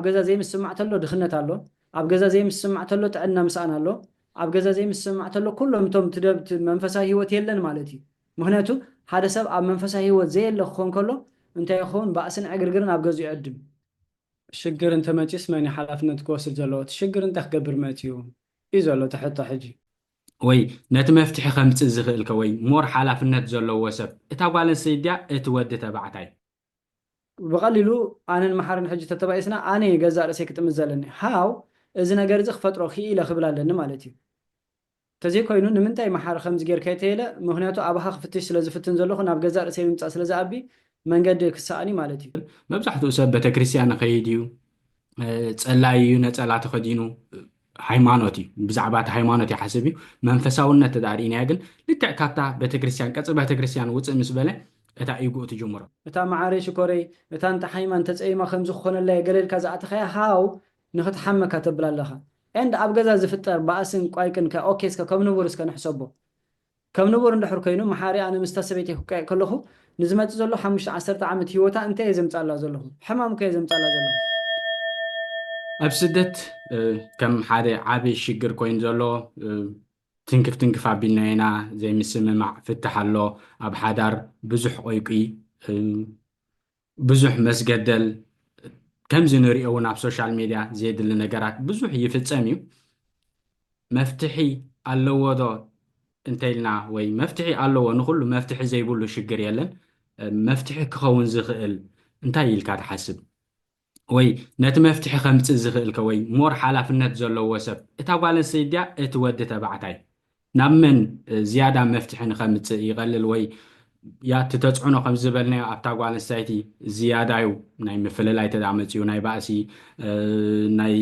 ኣብ ገዛ ዘይምስማዕ ተሎ ድኽነት ኣሎ፣ ኣብ ገዛ ዘይምስማዕ ተሎ ጥዕና ምስኣን ኣሎ፣ ኣብ ገዛ ዘይምስማዕ ተሎ ኩሎም እቶም ትደብት መንፈሳዊ ሕይወት የለን ማለት እዩ። ምኽንያቱ ሓደ ሰብ ኣብ መንፈሳዊ ሕይወት ዘየለ ክኾን ከሎ እንታይ ይኸውን ባእስን ዕግርግርን ኣብ ገዝኡ ይዕድም። ሽግር እንተ መጺኡስ መን እዩ ሓላፍነት ክወስድ ዘለዎ? እቲ ሽግር እንታይ ክገብር መጺኡ እዩ ዘሎ እቲ ሕቶ ሕጂ። ወይ ነቲ መፍትሒ ከምጽእ ዝኽእል ከ ወይ ሞር ሓላፍነት ዘለዎ ሰብ እታ ጓል ኣንስተይቲ ድያ እቲ ወዲ ተባዕታይ? ብቐሊሉ ኣነን መሓርን ሕጂ ተተባኢስና ኣነ እየ ገዛእ ርእሰይ ክጥምት ዘለኒ፣ how፣ እዚ ነገር እዚ ክፈጥሮ ክኢለ ክብል ኣለኒ ማለት እዩ። ተዘይኮይኑ ንምንታይ መሓሪ ከምዚ ጌር ከይተይለ ምኽንያቱ ኣባኻ ክፍትሽ ስለ ዝፍትን ዘለኹ ናብ ገዛእ ርእሰይ ምምጻእ ስለ ዝኣቢ መንገዲ ክሳኣን እዩ ማለት እዩ። መብዛሕትኡ ሰብ በተክርስትያን ይኸይድ እዩ፣ ጸላይ እዩ፣ ነጸላ ተኸዲኑ ሃይማኖት እዩ ብዛዕባ እቲ ሃይማኖት ይሓስብ እዩ መንፈሳውነት እዳ ርኢናዮ ግን ልክዕ ካብታ ቤተክርስትያን ቀጽሪ ቤተክርስትያን ውጽእ ምስ በለ እታ ኢጉኡ ትጅምሮ። እታ መዓረይ ሽኮረይ እታ እንተሓሚማ እንተጸይማ ከምዚ ክኾነላ እየ ገለ ኢልካ ዝኣተኻያ ሃው ንኽትሓመካ ተብላ ኣለኻ and ኣብ ገዛ ዝፍጠር ባእስን ቋይቅን ከ ok እስከ ከም ንቡር እስከ ንሕሰቦ ከም ንቡር እንድሕር ኮይኑ መሓሪ ኣነ ምስታ ሰበይተይ ክቀየቅ ከለኩ ንዝመጽእ ዘሎ ሓሙሽተ ዓሰርተ ዓመት ሂወታ እንታይ እየ ዘምጻላ ዘለኩ ሕማም እኮ እየ ዘምጻላ ዘለኩ። ኣብ ስደት ከም ሓደ ዓቢ ሽግር ኮይኑ ዘሎ ትንክፍ ትንክፍ ኣቢልና ኢና ዘይምስምማዕ ፍታሕ ኣሎ ኣብ ሓዳር ብዙሕ ቁይቁይ ብዙሕ መስገደል ከምዚ ንሪኦ እውን ኣብ ሶሻል ሜድያ ዘየድሊ ነገራት ብዙሕ ይፍፀም እዩ። መፍትሒ ኣለዎ ዶ እንተኢልና ወይ መፍትሒ ኣለዎ ንኹሉ መፍትሒ ዘይብሉ ሽግር የለን። መፍትሒ ክኸውን ዝኽእል እንታይ ኢልካ ትሓስብ? ወይ ነቲ መፍትሒ ከምፅእ ዝኽእል ከ ወይ ሞር ሓላፍነት ዘለዎ ሰብ እታ ጓል ኣንስተይቲ ድያ እቲ ወዲ ተባዕታይ? ናብ መን ዝያዳ መፍትሒ ንኸምጽእ ይቐልል ወይ እያ እቲ ተጽዕኖ ከም ዝበልናዮ ኣብታ ጓል ኣንስተይቲ ዝያዳዩ ናይ ምፍልላይ ተዳ መጽኡ ናይ ባእሲ ናይ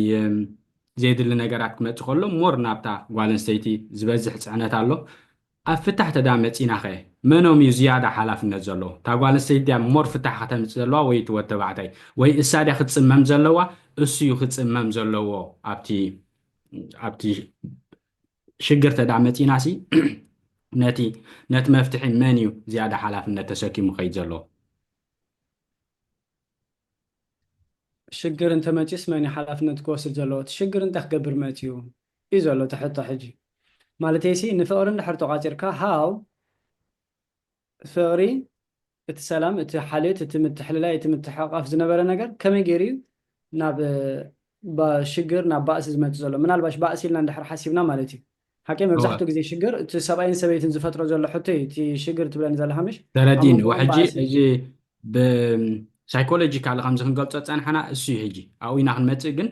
ዘየድሊ ነገራት ክመጽእ ከሎ ሞር ናብታ ጓል ኣንስተይቲ ዝበዝሕ ጽዕነት ኣሎ ኣብ ፍታሕ ተዳ መጺና ኸ መኖም እዩ ዝያዳ ሓላፍነት ዘለዎ እታ ጓል ኣንስተይቲ ድያ ሞር ፍታሕ ከተምጽእ ዘለዋ ወይ እቲ ወድ ተባዕታይ ወይ እሳ ድያ ክትጽመም ዘለዋ እሱ እዩ ክጽመም ዘለዎ ኣብቲ ኣብቲ ሽግር ተድኣ መጺናሲ ነቲ ነቲ መፍትሒ መን እዩ ዝያዳ ሓላፍነት ተሰኪሙ ከይድ ዘለዎ? ሽግር እንተመጺኡስ መን እዩ ሓላፍነት ክወስድ ዘለዎ? እቲ ሽግር እንታይ ክገብር መጺኡ እዩ ዘሎ እቲ ሕቶ ሕጂ። ማለተይሲ ንፍቕሪ እንድሕር ተቋጺርካ ሃው ፍቕሪ፣ እቲ ሰላም፣ እቲ ሓልዮት፣ እቲ ምትሕልላይ፣ እቲ ምትሕቕቓፍ ዝነበረ ነገር ከመይ ገይሩ እዩ ናብ ሽግር፣ ናብ ባእሲ ዝመጽእ ዘሎ? ምናልባሽ ባእሲ ኢልና እንድሕር ሓሲብና ማለት እዩ። ሓቀይ መብዛሕትኡ ግዜ ሽግር እቲ ሰብኣይን ሰበይትን ዝፈጥሮ ዘሎ ሕቶ እዩ እቲ ሽግር ትብለኒ ዘለኻ ምሽ? ተረዲእኒ። ሕጂ እዚ ብሳይኮሎጂካሊ ከምዚ ክንገልጾ ዝጸናሕና እሱ እዩ ሕጂ ኣብኡ ኢና ክንመጽእ ግን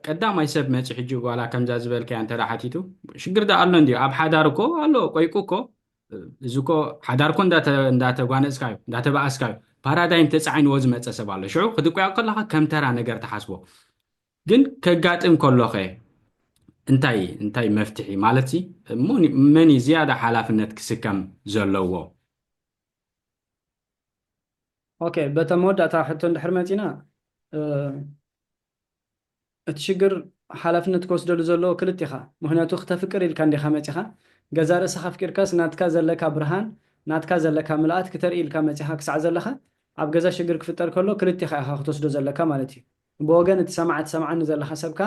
ቀዳማይ ሰብ መጺ ሕጂ ዋላ ከምዛ ዝበልካያ እንተ ሓቲቱ ሽግር ዳ ኣሎ እንድዩ ኣብ ሓዳር እኮ ኣሎ ቆይቁ እኮ እዚ እኮ ሓዳር እኮ እንዳተጓነፅካ እዩ እንዳተባኣስካ እዩ ፓራዳይም ተፃዒንዎ ዝመፀ ሰብ ኣሎ ሽዑ ክትቆያ ከለካ ከም ተራ ነገር ትሓስቦ ግን ከጋጥም ከሎኸ እንታይ እንታይ መፍትሒ ማለት ሲ መን እዩ ዝያዳ ሓላፍነት ክስከም ዘለዎ ኦኬ በታ መወዳእታ ሕቶ እንድሕር መፂና እቲ ሽግር ሓላፍነት ክወስደሉ ዘለዎ ክልት ኢኻ ምኽንያቱ ክተፍቅር ኢልካ እንዲኻ መጺኻ ገዛእ ርእስኻ ኣፍቂርካስ ናትካ ዘለካ ብርሃን ናትካ ዘለካ ምልኣት ክተርኢ ኢልካ መጺኻ ክሳዕ ዘለኻ ኣብ ገዛ ሽግር ክፍጠር ከሎ ክልቲኻ ኢኻ ክትወስዶ ዘለካ ማለት እዩ ብወገን እቲ ሰማዒ ትሰምዓኒ ዘለኻ ሰብካ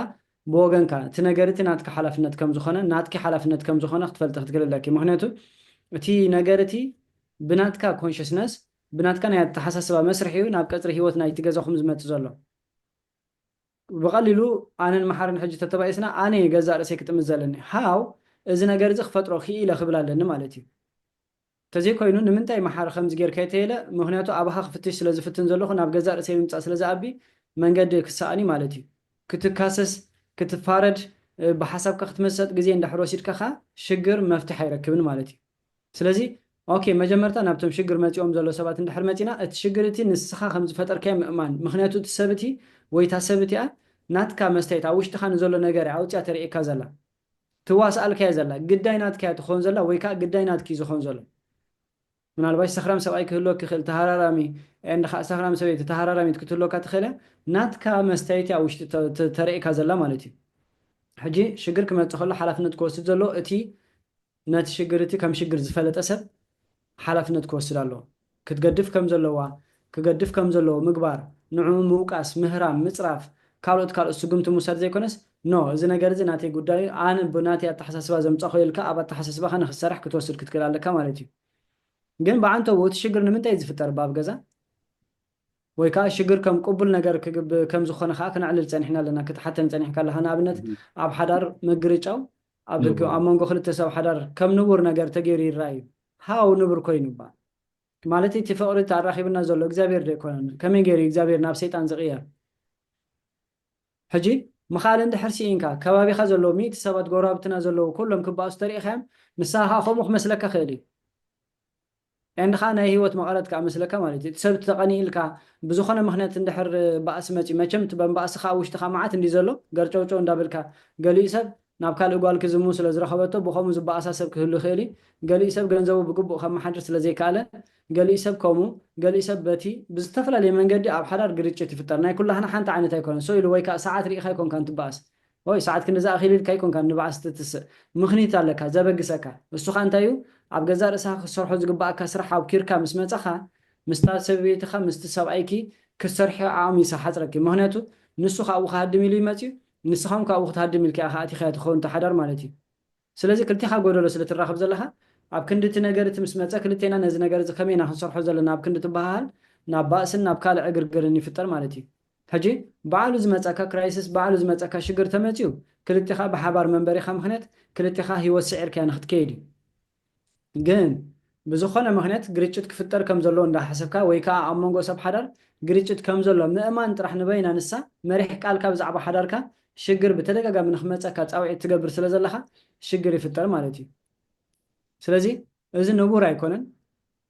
ብወገንካ እቲ ነገር እቲ ናትካ ሓላፍነት ከም ዝኾነ ናትኪ ሓላፍነት ከም ዝኾነ ክትፈልጢ ክትክሊ ኣለኪ ምኽንያቱ እቲ ነገር እቲ ብናትካ ኮንሽስነስ ብናትካ ናይ ኣተሓሳስባ መስርሕ እዩ ናብ ቀጽሪ ሂወት ናይቲ ገዛኹም ዝመጽእ ዘሎ። ብቐሊሉ ኣነን መሓርን ሕጂ ተተባኢስና ኣነ እየ ገዛእ ርእሰይ ክጥምት ዘለኒ፣ how፣ እዚ ነገር እዚ ክፈጥሮ ክኢለ ክብል ኣለኒ ማለት እዩ። ተዘይኮይኑ ንምንታይ መሓሪ ከምዚ ጌርካ የተየለ ምኽንያቱ ኣባኻ ክፍትሽ ስለ ዝፍትን ዘለኹ ናብ ገዛእ ርእሰይ ምምጻእ ስለ ዝኣቢ መንገዲ ክሰኣን እዩ ማለት እዩ። ክትካሰስ ክትፋረድ ብሓሳብካ ክትመሰጥ ግዜ እንዳሕር ወሲድካ ከኣ ሽግር መፍትሕ ኣይረክብን ማለት እዩ። ስለዚ ኦኬ መጀመርታ ናብቶም ሽግር መጺኦም ዘሎ ሰባት እንድሕር መጺና እቲ ሽግር እቲ ንስኻ ከም ዝፈጠርካዮ ምእማን ምኽንያቱ እቲ ሰብ እቲ ወይ እታ ሰብ እቲኣ ናትካ መስትያት ኣብ ውሽጥኻ ንዘሎ ነገር እያ ኣውጺኣ ተርእየካ ዘላ ትዋስኣልካ እያ ዘላ ግዳይ ናትካ እያ ትኾን ዘላ ወይ ከኣ ግዳይ ናትኪ እዩ ዝኾን ዘሎ ምናልባሽ ሰኽራም ሰብኣይ ክህልወኪ ይኽእል ተሃራራሚ and ከኣ ሰኽራም ሰበይቲ ተሃራራሚት ክትህልወካ ትኽእል እያ ናትካ መስትያት እያ ኣብ ውሽጢ ተርእየካ ዘላ ማለት እዩ ሕጂ ሽግር ክመጽእ ከሎ ሓላፍነት ክወስድ ዘለዎ እቲ ነቲ ሽግር እቲ ከም ሽግር ዝፈለጠ ሰብ ሓላፍነት ክወስድ ኣለዎ። ክትገድፍ ከም ዘለዋ፣ ክገድፍ ከም ዘለዎ ምግባር፣ ንዕኡ ምውቃስ፣ ምህራም፣ ምጽራፍ፣ ካልኦት ካልኦት ስጉምቲ ምውሳድ ዘይኮነስ፣ ኖ እዚ ነገር እዚ ናተይ ጉዳይ እዩ፣ ኣነ ብናተይ ኣተሓሳስባ ዘምጻኹ እየ ኢልካ ኣብ ኣተሓሳስባኻ ንኽትሰርሕ ክትወስድ ክትክእል ኣለካ ማለት እዩ። ግን ብዓንተብኡ እቲ ሽግር ንምንታይ እዩ ዝፍጠር እባ ኣብ ገዛ? ወይ ከኣ ሽግር ከም ቅቡል ነገር ክግብ ከም ዝኾነ ከኣ ክነዕልል ጸኒሕና ኣለና ክትሓተን ጸኒሕካ ኣለኻ። ንኣብነት ኣብ ሓዳር ምግርጫው ኣብ ርክብ ኣብ መንጎ ክልተ ሰብ ሓዳር ከም ንቡር ነገር ተገይሩ ይረኣ እዩ። ሃው ንቡር ኮይኑ እባ! ማለት እቲ ፍቕሪ እቲ ኣራኺቡና ዘሎ እግዚኣብሄር ዶ ኣይኮነን? ከመይ ገይሩ እዩ እግዚኣብሄር ናብ ሰይጣን ዝቕየር? ሕጂ ምኽኣል እንድሕር ስኢንካ ከባቢኻ ዘለዉ ሚእቲ ሰባት ጎረባብትና ዘለዉ ኩሎም ክበኣሱ ተሪኢኻዮም ንስኻ ከኣ ከምኡ ክመስለካ ይኽእል እዩ። and ከኣ ናይ ሂወት መቐረት ከኣ መስለካ ማለት እዩ እቲ ሰብ እቲ ተቐኒኢልካ ብዝኾነ ምኽንያት እንድሕር ባእሲ መጺኡ መቸም እቲ በንባእሲ ከኣ ኣብ ውሽጥኻ መዓት እንድዩ ዘሎ ገርጨውጨው እንዳበልካ ገሊኡ ሰብ ናብ ካልእ ጓል ክዝምው ስለ ዝረኸበቶ ብኸምኡ ዝባኣሳ ሰብ ክህሉ ይኽእል እዩ ገሊኡ ሰብ ገንዘቡ ብግቡእ ከመሓድር ስለ ዘይከኣለ ገሊኡ ሰብ ከምኡ ገሊኡ ሰብ በቲ ብዝተፈላለየ መንገዲ ኣብ ሓዳር ግርጭት ይፍጠር ናይ ኩላህና ሓንቲ ዓይነት ኣይኮነን ሰው ኢሉ ወይ ከኣ ሰዓት ሪኢኻ ኣይኮንካን ትባኣስ ኦይ ሰዓት ክንድዚ ኣኺሉ ኢልካ ኣይኮንካን ንብዓስ ትትስእ ምኽኒት ኣለካ ዘበግሰካ እሱ ከኣ እንታይ እዩ ኣብ ገዛእ ርእስኻ ክትሰርሖ ዝግብኣካ ስራሕ ኣብኲርካ ምስ መጻኻ ምስታ ሰብብይትኻ ምስቲ ሰብኣይኪ ክትሰርሕዮ ዓቕሚ ይሰሓጽረኪ ምኽንያቱ ንሱ ካብኡ ክሃድም ኢሉ እዩ መጺኡ ንስኻውን ካብኡ ክትሃድም ኢልኪ ኢኻ ኣቲኻዮ ትኸውን እታ ሓዳር ማለት እዩ ስለዚ ክልቴኻ ጎደሎ ስለ ትራኽብ ዘለኻ ኣብ ክንዲ እቲ ነገር እቲ ምስ መጸ ክልቴና ነዚ ነገር እዚ ከመይ ኢና ክንሰርሖ ዘለና ኣብ ክንዲ ትበሃሃል ናብ ባእስን ናብ ካልእ ዕግርግርን ይፍጠር ማለት እዩ። ሕጂ ባዕሉ ዝመጸካ ክራይስስ ባዕሉ ዝመጸካ ሽግር ተመጺኡ ክልቴኻ ብሓባር መንበሪኻ ምኽንያት ክልቴኻ ሂወት ስዒርካያ ንኽትከይድ እዩ። ግን ብዝኾነ ምኽንያት ግርጭት ክፍጠር ከም ዘሎ እንዳ ሓሰብካ ወይ ከኣ ኣብ መንጎ ሰብ ሓዳር ግርጭት ከም ዘሎ ምእማን ጥራሕ ንበይና ንሳ መሪሕ ቃልካ ብዛዕባ ሓዳርካ ሽግር ብተደጋጋሚ ንክመጸካ ጻውዒት ትገብር ስለ ዘለኻ ሽግር ይፍጠር ማለት እዩ ስለዚ እዚ ንቡር ኣይኮነን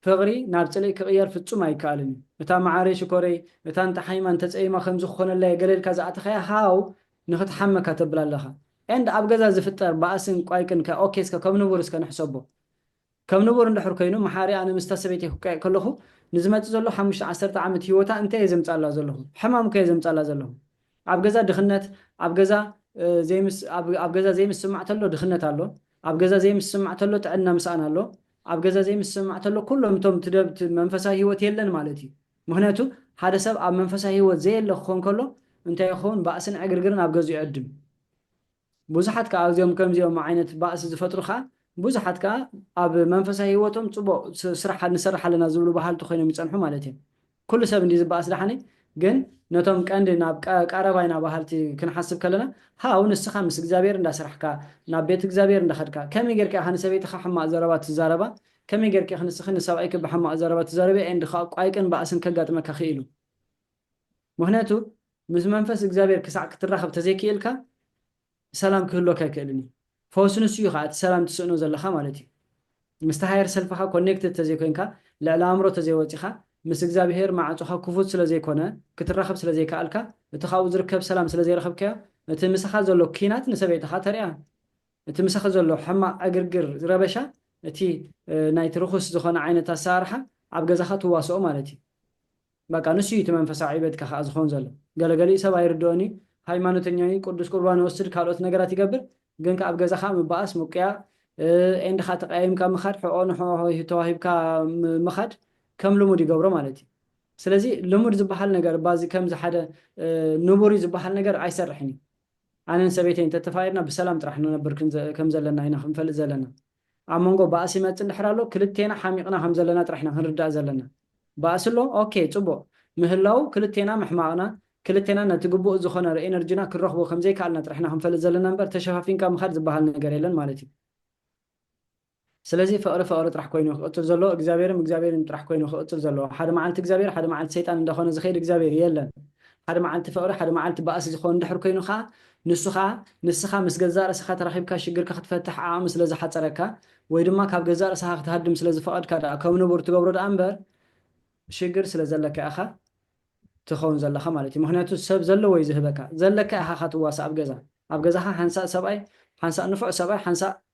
ፍቕሪ ናብ ጽልኢ ክቕየር ፍጹም ኣይከኣልን እዩ እታ መዓረይ ሽኮረይ እታ እንተ ሓይማ እንተ ጸይማ ከምዚ ክኾነላ እየ ገለ ኢልካ ዝኣተኻያ ሃው ንክትሓመ እካ ተብል ኣለካ and ኣብ ገዛ ዝፍጠር ባእስን ቋይቅን ከ ok እስከ ከም ንቡር እስከ ንሕሰቦ ከም ንቡር እንድሕር ኮይኑ መሓሪ ኣነ ምስታ ሰበይተይ ክቀየቅ ከለኩ ንዝመጽእ ዘሎ ሓሙሽተ ዓሰርተ ዓመት ሂወታ እንታይ እየ ዘምጻላ ዘለኩ ሕማም እኮ እየ ዘምጻላ ዘለኩ ኣብ ገዛ ድክነት ኣብ ገዛ ዘይምስ ኣብ ገዛ ዘይምስማዕ ተሎ ድክነት ኣሎ ኣብ ገዛ ዘይምስማዕ ተሎ ጥዕና ምስኣን ኣሎ ኣብ ገዛ ዘይምስማዕ ተሎ ኩሎም እቶም ትደብት መንፈሳዊ ሂወት የለን ማለት እዩ ምኽንያቱ ሓደ ሰብ ኣብ መንፈሳዊ ህይወት ዘየለ ክኾን ከሎ እንታይ ይኸውን ባእስን ዕግርግርን ኣብ ገዝኡ ይዕድም ብዙሓት ከኣ እዚኦም ከምዚኦም ዓይነት ባእሲ ዝፈጥሩ ከኣ ብዙሓት ከኣ ኣብ መንፈሳዊ ህይወቶም ጽቡቕ ስራሕ ንሰርሕ ኣለና ዝብሉ በሃልቲ ኮይኖም ይጸንሑ ማለት እዮም ኩሉ ሰብ እንድዩ ዝበኣስ ደሓነይ ግን ነቶም ቀንዲ ናብ ቀረባ ኢና በሃልቲ ክንሓስብ ከለና ሃው ንስኻ ምስ እግዚኣብሔር እንዳሰራሕካ ናብ ቤት እግዚኣብሔር እንዳኸድካ ከመይ ጌርካ ኢኻ ንሰበይትኻ ሕማቕ ዘረባ ትዛረባ ከመይ ጌርኪ ኢኺ ንስኺ ንሰብኣይኪ ብሓማቕ ዘረባ ትዛረብያ ኤንድ ኸኣ ቋይቅን ባእስን ከጋጥመካ ክኢሉ። ምኽንያቱ ምስ መንፈስ እግዚኣብሄር ክሳዕ ክትራኸብ ተዘይክኢልካ ሰላም ክህልወካ ኣይክእልን እዩ። ፈውሲ ንሱ እዩ ኸኣ እቲ ሰላም ትስእኖ ዘለኻ ማለት እዩ። ምስቲ ሃየር ሰልፍኻ ኮኔክትድ ተዘይኮይንካ ልዕሊ ኣእምሮ ተዘይወጺኻ ምስ እግዚኣብሄር ማዕጾኻ ክፉት ስለዘይኮነ ክትራኸብ ስለዘይከኣልካ እቲ ካብኡ ዝርከብ ሰላም ስለዘይረኸብካዮ እቲ ምሳኻ ዘሎ ኲናት ንሰበይትኻ ተርእያ እቲ ምሳኺ ዘሎ ሕማቕ ዕግርግር ረበሻ እቲ ናይቲ ርኹስ ዝኾነ ዓይነት ኣሰራርሓ ኣብ ገዛኻ ትዋስኦ ማለት እዩ በቃ ንሱ እዩ እቲ መንፈሳዊ ዕቤትካ ከኣ ዝኸውን ዘሎ ገለ ገሊኡ ሰብ ኣይርድኦን እዩ ሃይማኖተኛ እዩ ቅዱስ ቁርባን ይወስድ ካልኦት ነገራት ይገብር ግን ከኣ ኣብ ገዛኻ ምባኣስ ምቁያ ኤንድ ከኣ ተቀያይምካ ምኻድ ሕኦ ንሕኦ ተዋሂብካ ምኻድ ከም ልሙድ ይገብሮ ማለት እዩ ስለዚ ልሙድ ዝበሃል ነገር ባዚ ከምዚ ሓደ ንቡር እዩ ዝበሃል ነገር ኣይሰርሕን እዩ ኣነን ሰበይተይን ተተፋቂርና ብሰላም ጥራሕ ንነብር ከም ዘለና ኢና ክንፈልጥ ዘለና። ኣብ መንጎ ባእሲ ይመጽእ እንድሕር ኣሎ ክልቴና ሓሚቅና ከም ዘለና ጥራሕ ኢና ክንርዳእ ዘለና። ባእሲ ኣሎ ኦኬ ጽቡቅ ምህላዉ ክልቴና ምሕማቅና ክልቴና ነቲ ግቡእ ዝኮነ ርእኤነርጅና ክንረክቦ ከም ዘይከኣልና ጥራሕ ኢና ክንፈልጥ ዘለና እምበር ተሸፋፊንካ ምካድ ዝባሃል ነገር የለን ማለት እዩ። ስለዚ ፍቕሪ ፍቕሪ ጥራሕ ኮይኑ ክቕጽል ዘለዎ እግዚኣብሔርም እግዚኣብሔርን ጥራሕ ኮይኑ ክቕጽል ዘለዎ ሓደ መዓልቲ እግዚኣብሔር ሓደ መዓልቲ ሰይጣን እንዳኾነ ዝኸይድ እግዚኣብሔር የለን ሓደ መዓልቲ ፍቕሪ ሓደ መዓልቲ ባእሲ ዝኸውን እንድሕር ኮይኑ ከኣ ንሱ ከኣ ንስኻ ምስ ገዛእ ርእስኻ ተራኺብካ ሽግርካ ክትፈትሕ ዓቕሚ ስለ ዝሓጸረካ ወይ ድማ ካብ ገዛእ ርእስኻ ክትሃድም ስለ ዝፈቐድካ ደኣ ከም ንቡር ትገብሮ ደኣ እምበር ሽግር ስለ ዘለካ ኢኻ ትኸውን ዘለኻ ማለት እዩ ምኽንያቱ ሰብ ዘለዎ እዩ ዝህበካ ዘለካ ኢኻ እኻ ትዋሳእ ኣብ ገዛ ኣብ ገዛኻ ሓንሳእ ሰብኣይ ሓንሳእ ንፉዕ ሰብኣይ ሓንሳእ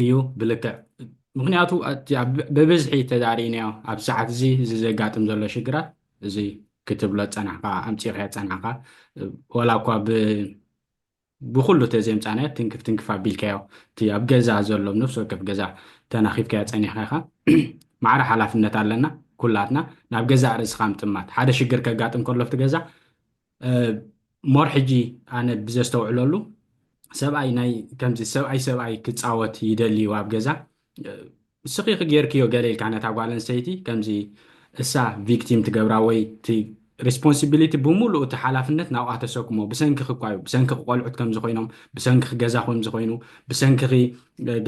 እዩ ብልክዕ ምክንያቱ ብብዝሒ ተዛሪናዮ ኣብ ሰዓት እዚ እዚ ዘጋጥም ዘሎ ሽግራት እዚ ክትብሎ ፀናሕካ ኣምፂኻዮ ፀናሕካ ዋላ እኳ ብኩሉ ተዘምፃናዮ ትንክፍ ትንክፍ ኣቢልካዮ እቲ ኣብ ገዛ ዘሎ ነፍሲ ወከፍ ገዛ ተናኺፍካዮ ፀኒሕካ ኢኻ ማዕረ ሓላፍነት ኣለና ኩላትና ናብ ገዛእ ርእስኻ ምጥማት ሓደ ሽግር ከጋጥም ከሎ ኣብቲ ገዛ ሞር ሕጂ ኣነ ብዘስተውዕለሉ ሰብኣይ ናይ ከምዚ ሰብኣይ ሰብኣይ ክጻወት ይደሊ እዩ ኣብ ገዛ ስኺኺ ጌርክዮ ገለ ኢልካ ነታ ጓል ኣንስተይቲ ከምዚ እሳ ቪክቲም ትገብራ ወይ እቲ ሪስፖንሲቢሊቲ ብምሉእ እቲ ሓላፍነት ናብኣ ተሰክሞ ብሰንኪኺ እኳ እዩ ብሰንኪኺ ቆልዑት ከምዚ ኮይኖም ብሰንኪኺ ገዛ ከምዚ ኮይኑ ብሰንኪኺ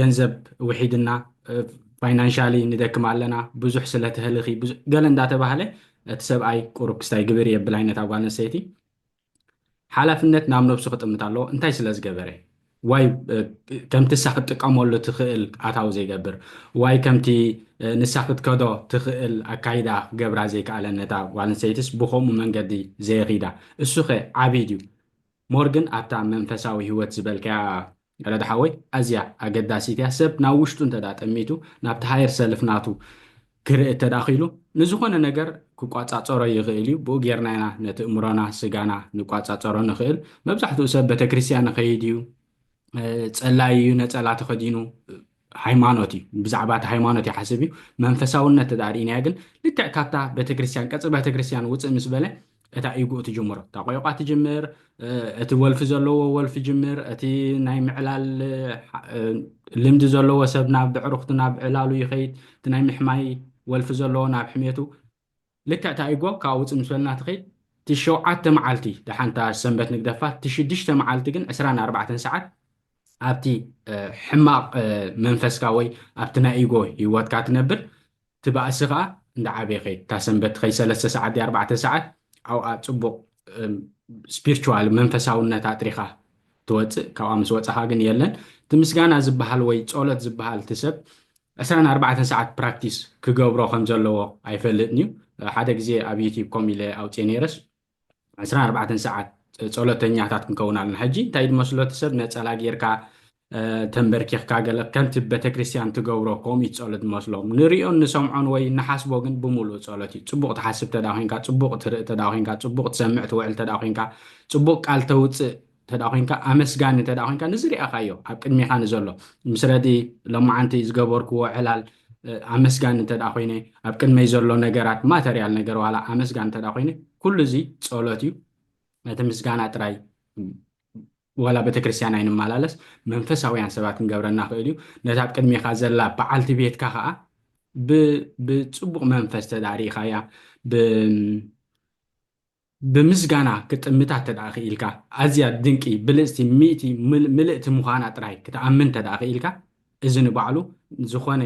ገንዘብ ውሒድና ፋይናንሻሊ ንደክም ኣለና ብዙሕ ስለተህልኺ ገለ እንዳተባህለ እቲ ሰብኣይ ቁሩብ ክስታይ ግብሪ የብል ኣይነት ኣጓል ኣንሰይቲ ሓላፍነት ናብ ነብሱ ክጥምት ኣለዎ እንታይ ስለ ዝገበረ ዋይ ከምቲ እሳ ክትጥቀመሉ ትኽእል ኣታዊ ዘይገብር ዋይ ከምቲ ንሳ ክትከዶ ትኽእል ኣካይዳ ክገብራ ዘይከኣለ ነታ ጓል ኣንሰይትስ ብከምኡ መንገዲ ዘየኺዳ እሱኸ ዓብይ ድዩ ሞር ግን ኣብታ መንፈሳዊ ሂወት ዝበልካያ ረዳ ሓወይ ኣዝያ ኣገዳሲት እያ ሰብ ናብ ውሽጡ እንተ ጠሚቱ ናብቲ ሃየር ሰልፍ ናቱ ክርኢ እተ ክኢሉ ንዝኾነ ነገር ክቋጻጸሮ ይኽእል እዩ ብኡ ጌርና ኢና ነቲ እምሮና ስጋና ንቋጻጸሮ ንኽእል መብዛሕትኡ ሰብ ቤተክርስትያን ይኸይድ እዩ ጸላይ እዩ ነጸላ ተኸዲኑ ሃይማኖት እዩ ብዛዕባ እቲ ሃይማኖት ይሓስብ እዩ መንፈሳውነት ተዳ ርኢናዮ ግን ልክዕ ካብታ ቤተክርስትያን ቀፅሪ ቤተክርስትያን ውፅእ ምስ በለ እታ ኢጉኡ ትጅምሮ እታ ቆይቋ ትጅምር እቲ ወልፊ ዘለዎ ወልፊ ጅምር እቲ ናይ ምዕላል ልምዲ ዘለዎ ሰብ ናብ ብዕሩክቱ ናብ ዕላሉ ይኸይድ እቲ ናይ ምሕማይ ወልፊ ዘለዎ ናብ ሕሜቱ ልክዕ ታኢጎ ካብኣ ውጽእ ምስ በልና ትኺድ እቲ ሸውዓተ መዓልቲ ደሓን እታ ሰንበት ንግደፋ እቲ ሽዱሽተ መዓልቲ ግን ዕስራን ኣርባዕተን ሰዓት ኣብቲ ሕማቕ መንፈስካ ወይ ኣብቲ ናይ ኢጎ ሂወትካ ትነብር እቲ ባእሲ ከኣ እንዳዓበየ ይኸይድ እታ ሰንበት ትኸይድ ሰለስተ ሰዓት ድያ ኣርባዕተ ሰዓት ኣብኣ ጽቡቕ ስፒርችዋል መንፈሳውነት ኣጥሪኻ ትወፅእ ካብኣ ምስ ወፃኻ ግን የለን እቲ ምስጋና ዝበሃል ወይ ፆሎት ዝበሃል እቲ ሰብ 24 ሰዓት ፕራክቲስ ክገብሮ ከም ዘለዎ ኣይፈልጥን እዩ ሓደ ግዜ ኣብ ዩቲብ ኮም ኢለ ኣውፅኤ ነይረስ 24 ሰዓት ፆሎተኛታት ክንከውን ኣለና ሕጂ እንታይ ድመስሎ እቲ ሰብ ነፀላ ጌርካ ተምበርኪኽካ ገለ ከምቲ በተክርስትያን ትገብሮ ኮሚት ጸሎት ዝመስሎም ንርእዮን ንሰምዖን ወይ ንሓስቦ ግን ብምሉኡ ጸሎት እዩ ጽቡቕ ትሓስብ ተዳ ኮንካ ጽቡቕ ትርኢ ተዳ ኮንካ ጽቡቕ ትሰምዕ ትውዕል ተዳ ኮንካ ጽቡቕ ቃል ተውጽእ ተዳ ኮንካ ኣመስጋኒ ተዳ ኮንካ ንዝርኣኻዮ ኣብ ቅድሜኻ ንዘሎ ምስ ረዲ ሎማዓንቲ ዝገበርክዎ ዕላል ኣመስጋኒ እንተዳ ኮይነ ኣብ ቅድመይ ዘሎ ነገራት ማተርያል ነገር ዋላ ኣመስጋኒ እንተዳ ኮይነ ኩሉ እዚ ጸሎት እዩ ነቲ ምስጋና ጥራይ ዋላ ቤተክርስትያን ኣይንመላለስ መንፈሳውያን ሰባት ክንገብረና ይኽእል እዩ። ነታ ኣብ ቅድሜኻ ዘላ በዓልቲ ቤትካ ኸኣ ብጽቡቕ መንፈስ ተድኣ ርኢኻያ ብምስጋና ክጥምታ ተድኣ ክኢልካ ኣዝያ ድንቂ ብልጽቲ ሚእቲ ምልእቲ ምዃና ጥራይ ክትኣምን ተድኣ ክኢልካ እዚ ንባዕሉ ዝኾነ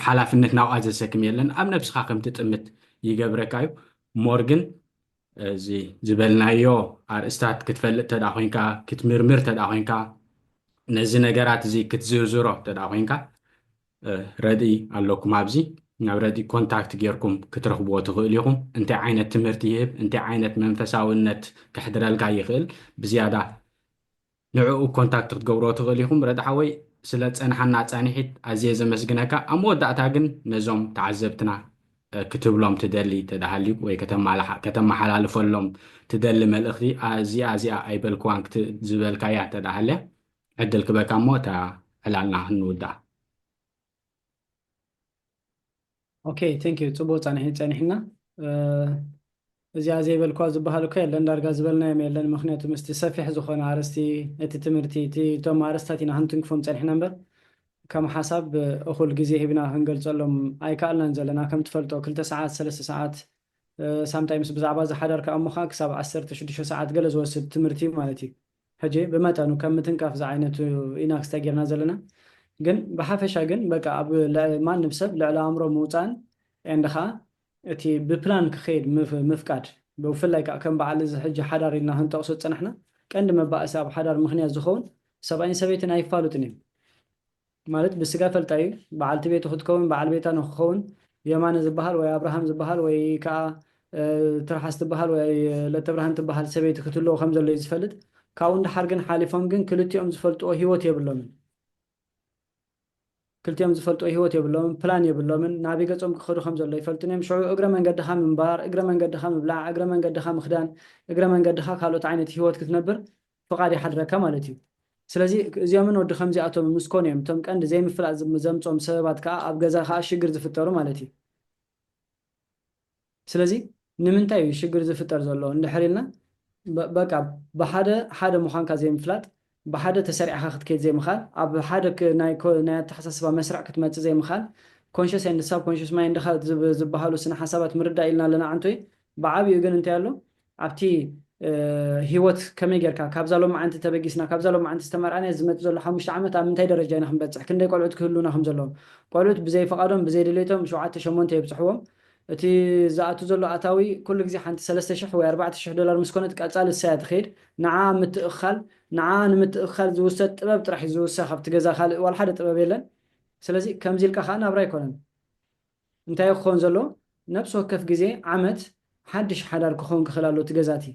ሓላፍነት ናብኣ ዘሰክም የለን ኣብ ነብስካ ከም ትጥምት ይገብረካ እዩ more ግን እዚ ዝበልናዮ ኣርእስታት ክትፈልጥ ተድኣ ኮንካ ክትምርምር ተድኣ ኮንካ ነዚ ነገራት እዚ ክትዝርዝሮ ተድኣ ኮንካ ረድኢ ኣለኩም ኣብዚ ናብ ረድኢ ኮንታክት ጌርኩም ክትረኽብዎ ትኽእሉ ኢኹም እንታይ ዓይነት ትምህርቲ ይህብ እንታይ ዓይነት መንፈሳውነት ከሕድረልካ ይኽእል ብዝያዳ ንዕኡ ኮንታክት ክትገብርዎ ትኽእል ኢኹም። ረድ ሓወይ ስለ ትጸንሓና ጻኒሒት ኣዝየ ዘመስግነካ። ኣብ መወዳእታ ግን ነዞም ተዓዘብትና ክትብሎም ትደሊ እንተ ሃልዩ ወይ ከተመሓላልፈሎም ትደሊ መልእኽቲ ኣዚኣ ኣዚኣ ኣይበልክዋን ክትብ ዝበልካያ እንተ ሃልያ ዕድል ክበካ እሞ እታ ዕላልና ንውድኣ። ኦኬ ቴንክ ዩ ፅቡቅ ፃንሒት ፀኒሕና እዚኣ ዘይበልኳ ዝበሃል እኮ የለን ዳርጋ ዝበልናዮም የለን ምክንያቱ ምስቲ ሰፊሕ ዝኾነ ኣርስቲ እቲ ትምህርቲ እቲ እቶም ኣርስታት ኢና ክንትንክፎም ፀኒሕና እምበር ከም ሓሳብ እኹል ግዜ ሂብና ክንገልፀሎም ኣይከኣልናን ዘለና ከም ትፈልጦ ክልተ ሰዓት ሰለስተ ሰዓት ሳምታይምስ ብዛዕባ እዚ ሓዳርካ እሞኻ ክሳብ ዓሰርተ ሽዱሽተ ሰዓት ገለ ዝወስድ ትምህርቲ ማለት እዩ ሕጂ ብመጠኑ ከም ምትንካፍ ዝዓይነቱ ኢና ክስታይ ጌርና ዘለና ግን ብሓፈሻ ግን በቃ ኣብ ልዕሊ ማንም ሰብ ልዕሊ ኣእምሮ ምውጻእን and ከኣ እቲ ብፕላን ክኸይድ ምፍቃድ ብፍላይ ከኣ ከም በዓል እዚ ሕጂ ሓዳር ኢልና ክንጠቕሶ ዝጸናሕና ቀንዲ መባኣሲ ኣብ ሓዳር ምኽንያት ዝኸውን ሰብኣይን ሰበይትን ኣይፋሉጥን እዮም ማለት ብስጋ እፈልጣ እዩ በዓልቲ ቤቱ ክትከውን በዓል ቤታ ንክኸውን የማነ ዝበሃል ወይ ኣብርሃም ዝበሃል ወይ ከኣ ትርሓስ ትበሃል ወይ ለተብርሃን ትበሃል ሰበይቲ ክትህልዎ ከም ዘሎ እዩ ዝፈልጥ ካብኡ ንደሓር ግን ሓሊፎም ግን ክልቲኦም ዝፈልጥዎ ሂወት የብሎምን ክልቲኦም ዝፈልጥዎ ሂወት የብሎምን ፕላን የብሎምን ናበይ ገጾም ክኸዱ ከም ዘሎ ኣይፈልጡን እዮም ሽዑ እግረ መንገድኻ ምንባር እግረ መንገድኻ ምብላዕ እግረ መንገድኻ ምኽዳን እግረ መንገድኻ ካልኦት ዓይነት ሂወት ክትነብር ፍቓድ ይሓድረካ ማለት እዩ። ስለዚ እዚኦምን ወዲ ከምዚኣቶምን ምስ ኮኑ እዮም እቶም ቀንዲ ዘይምፍላጥ ዘምጽኦም ሰበባት ከኣ ኣብ ገዛ ከኣ ሽግር ዝፍጠሩ ማለት እዩ። ስለዚ ንምንታይ እዩ ሽግር ዝፍጠር ዘሎ እንድሕር ኢልና በቃ ብሓደ ሓደ ምዃንካ ዘይምፍላጥ፣ ብሓደ ተሰሪዕኻ ክትከይድ ዘይምኽኣል፣ ኣብ ሓደ ናይ ናይ ኣተሓሳስባ መስርዕ ክትመጽእ ዘይምኽኣል፣ ኮንሸስ ኤንድ ሳብ ኮንሸስ ማይንድኻ ዝብሃሉ ስነ ሓሳባት ምርዳእ ኢልና ኣለና ኣንቶይ ብዓቢኡ ግን እንታይ ኣሎ ኣብቲ ህይወት ከመይ ጌርካ ካብዛ ሎማዓንቲ ተበጊስና ካብዛ ሎማዓንቲ ዝተመርዓናያ ዝመጽእ ዘሎ ሓሙሽተ ዓመት ኣብ ምንታይ ደረጃ ኢና ክንበጽሕ ክንደይ ቆልዑት ክህልዉና ከም ዘለዎም ቆልዑት ብዘይ ፍቃዶም ብዘይ ድሌቶም ሸውዓተ ሸሞንተ የብጽሕዎም እቲ ዝኣቱ ዘሎ ኣታዊ ኩሉ ግዜ ሓንቲ ሰለስተ ሽሕ ወይ ኣርባዕተ ሽሕ ዶላር ምስ ኮነት ቀጻሊ እሳያ ትከይድ ንዓኣ ኣብ ምትእክካል ንዓኣ ንምትእክካል ዝውሰድ ጥበብ ጥራሕ እዩ ዝውሰክ ኣብቲ ገዛ ካልእ ዋላ ሓደ ጥበብ የለን ስለዚ ከምዚ ኢልካ ከኣ ናብራ ኣይኮነን እንታይ ክኾን ዘሎ ነብሲ ወከፍ ግዜ ዓመት ሓድሽ ሓዳር ክኾን ክኽል ኣሎ እቲ ገዛ እቲ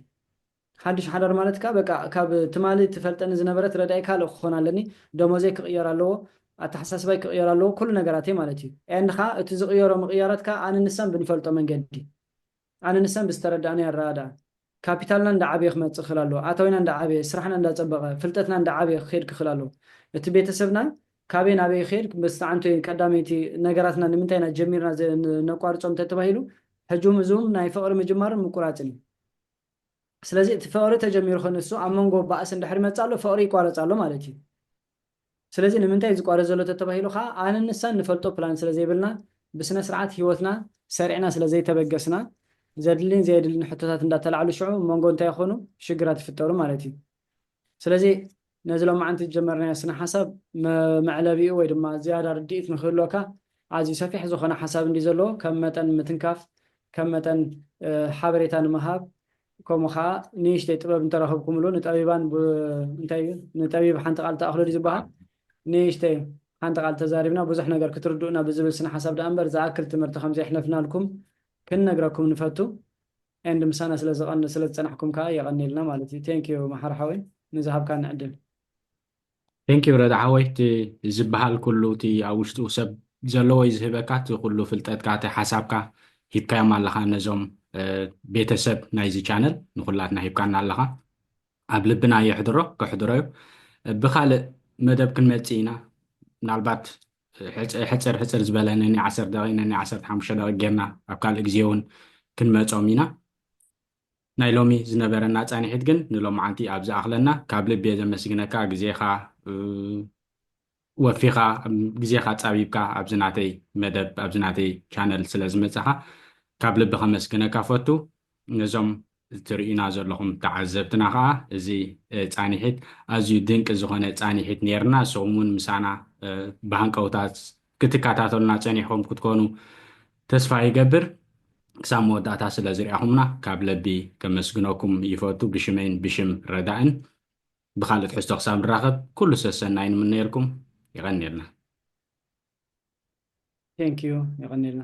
ሓድሽ ሓዳር ማለት ከኣ በቃ ካብ ትማሊ ትፈልጠኒ ዝነበረት ረዳኢ ካልእ ክኾን ኣለኒ ደሞዘይ ክቕየር ኣለዎ ኣተሓሳስባይ ክቕየር ኣለዎ ኩሉ ነገራተይ ማለት እዩ and ከኣ እቲ ዝቕየሮ ምቕያራት ከኣ ኣነ ንሳን ብንፈልጦ መንገዲ ኣነ ንሰን ብዝተረደኣኒ ኣረኣእዳ፣ ካፒታልና እንዳዓበየ ክመጽእ ክኽል ኣለዎ። ኣታዊና እንዳዓበየ፣ ስራሕና እንዳጸበቐ፣ ፍልጠትና እንዳዓበየ ክኸይድ ክኽል ኣለዎ። እቲ ቤተሰብና ካበይ ናበይ ይኸይድ፣ መስተዓንቶ እዩ፣ ቀዳመይቲ ነገራትና ንምንታይ ኢና ጀሚርና ዘይነቋርጾም ተተባሂሉ፣ ሕጂ'ውን እዚ'ውን ናይ ፍቕሪ ምጅማርን ምቁራጽን እዩ። ስለዚ እቲ ፍቕሪ ተጀሚሩ ክንሱ ኣብ መንጎ ባእሲ እንድሕሪ መጽእ ኣሎ፣ ፍቕሪ ይቋረጽ ኣሎ ማለት እዩ። ስለዚ ንምንታይ እዩ ዝቋረጽ ዘሎ ተተባሂሉ ከኣ ኣነን ንሳን ንፈልጦ ፕላን ስለ ዘይብልና ብስነስርዓት ህይወትና ሰሪዕና ስለ ዘይተበገስና ዘድልን ዘየድልን ሕቶታት እንዳተላዕሉ ሽዑ ኣብ መንጎ እንታይ ይኾኑ ሽግራት ይፍጠሩ ማለት እዩ። ስለዚ ነዚ ሎማዓንቲ ዝጀመርናዮ ስነሓሳብ መዕለቢኡ ወይ ድማ ዝያዳ ርድኢት ንክህልወካ ኣዝዩ ሰፊሕ ዝኾነ ሓሳብ እንድዩ ዘለዎ ከም መጠን ምትንካፍ ከም መጠን ሓበሬታ ንምሃብ ከምኡ ከኣ ንእሽተይ ጥበብ እንተረኽብኩምሉ ንጠቢባን እንታይ እዩ ንጠቢብ ሓንቲ ቃል ተኣኽሎ ድዩ ዝበሃል ንእሽተይ ሓንቲ ቃል ተዛሪብና ብዙሕ ነገር ክትርድኡና ብዝብል ስነ ሓሳብ ደኣ እምበር ዝኣክል ትምህርቲ ከም ዘየሕለፍናልኩም ክንነግረኩም ንፈቱ ኤንድ ምሳና ስለ ዝጸናሕኩም ከኣ የቐንየልና ማለት እዩ ቴንክ ዩ መሓሪ ሓወይ ንዝሃብካኒ ዕድል Thank you ረዳ ሓወይ እቲ ዝብሃል ኩሉ እቲ ኣብ ውሽጡ ሰብ ዘለዎ እዩ ዝህበካ እቲ ኩሉ ፍልጠትካ እቲ ሓሳብካ ሂብካዮም ኣለኻ ነዞም ቤተ ሰብ ናይዚ ቻነል ንኩላትና ሂብካና ኣለኻ ኣብ ልብና የሕድሮ ከሕድሮ እዩ ብኻልእ መደብ ክንመጽእ ኢና ምናልባት ሕጽር ሕጽር ዝበለ ነኒ ዓሰርተ ደቂቅ ነኒ ዓሰርተ ሓሙሽተ ደቂቅ ጌርና ኣብ ካልእ ግዜ እውን ክንመጾም ኢና ናይ ሎሚ ዝነበረና ፃኒሒት ግን ንሎምዓንቲ ኣብ ዝኣኽለና ካብ ልቢየ ዘመስግነካ ግዜኻ ወፊኻ ግዜኻ ፃቢብካ ኣብዚ ናተይ መደብ ኣብዚ ናተይ ቻነል ስለ ዝመፃኻ ካብ ልቢ ከመስግነካ እፈቱ ነዞም ትርእዩና ዘለኹም ተዓዘብትና ከዓ እዚ ፃኒሒት ኣዝዩ ድንቂ ዝኾነ ፃኒሒት ነይርና ንስኹም እውን ምሳና ብሃንቀውታ ክትካታተሉና ጸኒሕኹም ክትኮኑ ተስፋ ይገብር። ክሳብ መወዳእታ ስለ ዝርኣኹምና ካብ ለቢ ከመስግነኩም ይፈቱ ብሽመይን ብሽም ረዳእን። ብኻልእ ትሕዝቶ ክሳብ ንራኸብ ኩሉ ሰሰናይ ንምነየልኩም። የቐንየልና። Thank you የቐንየልና።